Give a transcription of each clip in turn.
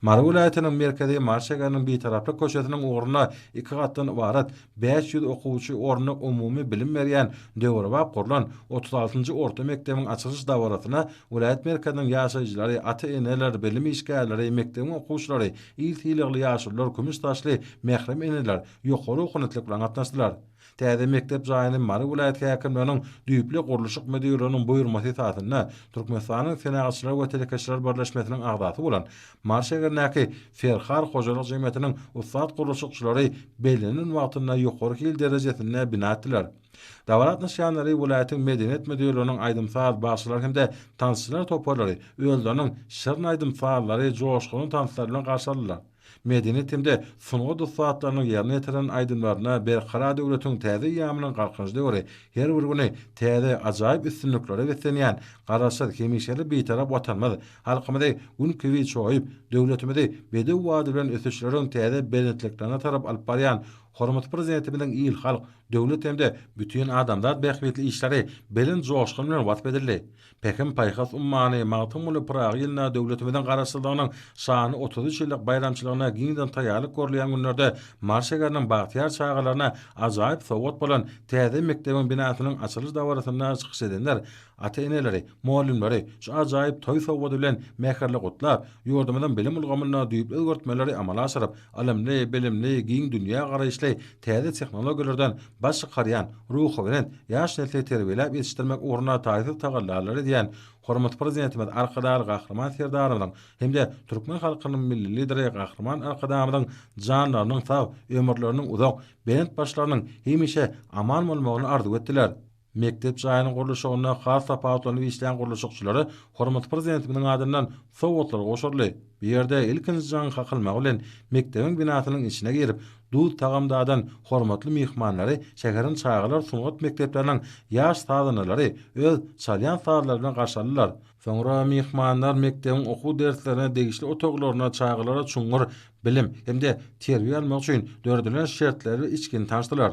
Mary welaýatynyň merkezi Mary şäheriniň Bitaraplyk köçesiniň ugrunda iki gatdan ybarat, bäş ýüz okuwçy orunly umumy bilim berýän döwrebap gurlan otuz altynjy orta mekdebiň açylyş dabarasyna welaýat merkeziniň ýaşaýjylary, ata-eneler, bilim işgärleri, mekdebiň okuwçylary, il sylagly ýaşulular, kümüş saçly mährem eneler ýokary okunytly bilen gatnaşdylar. Täze mekdep jaýyny Mary welaýat häkimliginiň düýpli gurluşyk müdirliginiň buýurmasy esasynda Türkmenistanyň Senagatçylar we telekeçiler birleşmesiniň agzasy bolan Mary şäherindäki Ferhar hojalyk jemgyýetiniň ussat gurluşykçylary bellenen wagtynda ýokary hil derejesinde bina etdiler. Dabara gatnaşýanlary welaýatyň Medeniýet müdirliginiň aýdym-saz, bagşylar hem-de tansçylar toparlary özleriniň şirin aýdym-sazlary, joşgunly tanslar bilen garşy aldylar. medeniýet hem-de sungat ussatlarynyň ýerine ýetiren aýdymlaryna Berkarar döwletiň täze eýýamynyň Galkynyş döwri her bir güni täze ajaýyp üstünliklere beslenýän Garaşsyz, hemişelik Bitarap Watanymyz halkymyzy gün kibi çoýup, döwletimizi bedew bady bilen ösüşleriň täze belentliklerine tarap alyp barýan hormatly Prezidentimiziň il-halk, döwlet hem-de bütin adamzat bähbitli işleri belent joşgun bilen wasp edildi. Pähim-paýhas ummany Magtymguly Pyragy ýylynda döwletimiziň Garaşsyzlygynyň şanly otuz üç ýyllyk baýramçylygyna giňden taýýarlyk görülýän günlerde Mary şäheriniň bagtyýar çagalaryna ajaýyp sowgat bolan täze mekdebiň binasynyň açylyş dabarasynda çykyş edenler ata-eneleri, mugallymlary şu ajaýyp toý sowgady bilen mähirli gutlap, ýurdumyzyň bilim ulgamynda düýpli özgertmeleri amala aşyryp, Ylymly, bilimli, giň dünýä garaýyşly, täze tehnologiýalardan baş çykarýan, ruhubelent ýaş nesli terbiýeläp ýetişdirmek ugrunda taýsyz tagallalary edýän Hormatly Prezidentimiz Arkadagly Gahryman Serdarymyzyň hem-de türkmen halkynyň Milli Lideri Gahryman Arkadagymyzyň janlarynyň sag, ömürleriniň uzak, belent başlarynyň hemişe aman bolmagyny arzuw etdiler. Mekdep jaýynyň gurluşygynda has tapawutlanyp işlän gurluşykçylara hormatly Prezidentimiziň adyndan sowgatlar gowşuryldy. Bu ýerde ilkinji jaň kakylmagy bilen mekdebiň binasynyň içine girip, duz-tagam dadan hormatly myhmanlary şäheriň çagalar sungat mekdepleriniň ýaş sazandalary öz çalýan sazlary bilen garşy aldylar. Soňra myhmanlar mekdebiň okuw derslerine degişli otaglarynda çagalara çuňňur bilim hem-de terbiýe almak üçin döredilen şertleri we içgini tanyşdylar.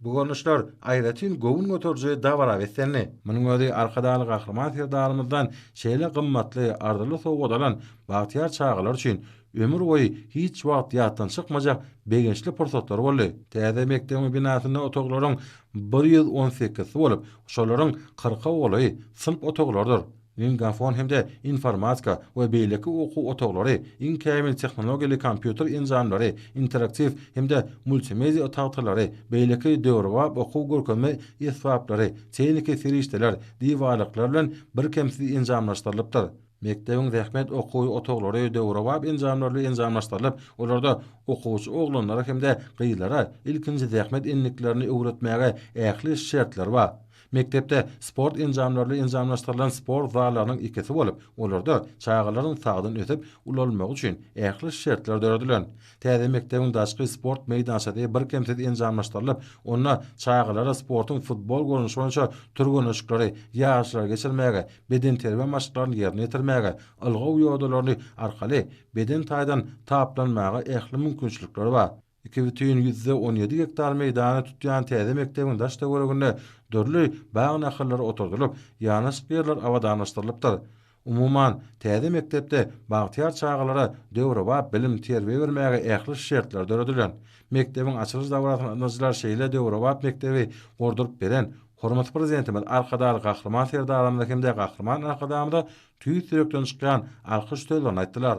Bu görnüşler aýratyn göwün göteriji dabara beslendi. Munuň özi Arkadagly Gahryman Serdarymyzdan şeýle gymmatly, arzyly sowgat alan bagtyýar çagalar üçin ömür boýy hiç wagt ýatdan çykmajak begençli pursatlar boldy. Täze mekdebiň binasynda otaglaryň bir ýüz on sekizisi bolup, şolaryň kyrka golaýy synp otaglardyr. Lingafon hem-de informatika we beýleki okuw otaglary iň kämil tehnologiýaly kompýuter enjamlary, interaktiw hem-de multimedia tagtalary, beýleki döwrebap okuw-görkezme esbaplary, tehniki serişdeler, diwarlyklar bilen birkemsiz enjamlaşdyrylypdyr. Mekdebiň zähmet okuw otaglary döwrebap enjamlar bilen enjamlaşdyrylyp, olarda okuwçy oglanlara hem-de gyzlara ilkinji zähmet endiklerini öwretmäge ähli şertler bar. Mekdepde sport enjamlaryny enjamlaşdyrylan sport zallarynyň ikisi bolup, olarda çagalaryň sagdyn ösüp, ulalmagy üçin ähli şertler döredilen. Täze mekdebiň daşky sport meýdançasy birkemsiz enjamlaşdyrylyp, onda çagalara sportuň futbol görnüşi boýunça türgenleşikleri, ýaryşlary geçirmäge, bedenterbiýe maşklaryny ýerine ýetirmäge, ylgaw ýodalaryny arkaly beden taýdan taplanmaga ähli mümkinçilikleri bar. Iki bütin ýüzde on ýedi gektar meýdany tutýan täze mekdebiň daş-töweregine dürli bag nahallary oturdylyp, ýanaşyk ýerler abadanlaşdyrylypdyr. Umuman, täze mekdepde bagtyýar çagalara döwrebap bilim-terbiýe bermäge ähli şertler döredilen. Mekdebiň açylyş dabarasyna ynjylar şeýle döwrebap mekdebi gurduryp beren hormatly Prezidentimiz Arkadagly Gahryman Serdarymyza hem-de Gahryman Arkadagymyza tüýs ýürekden çykýan alkyş sözlerini aýtdylar.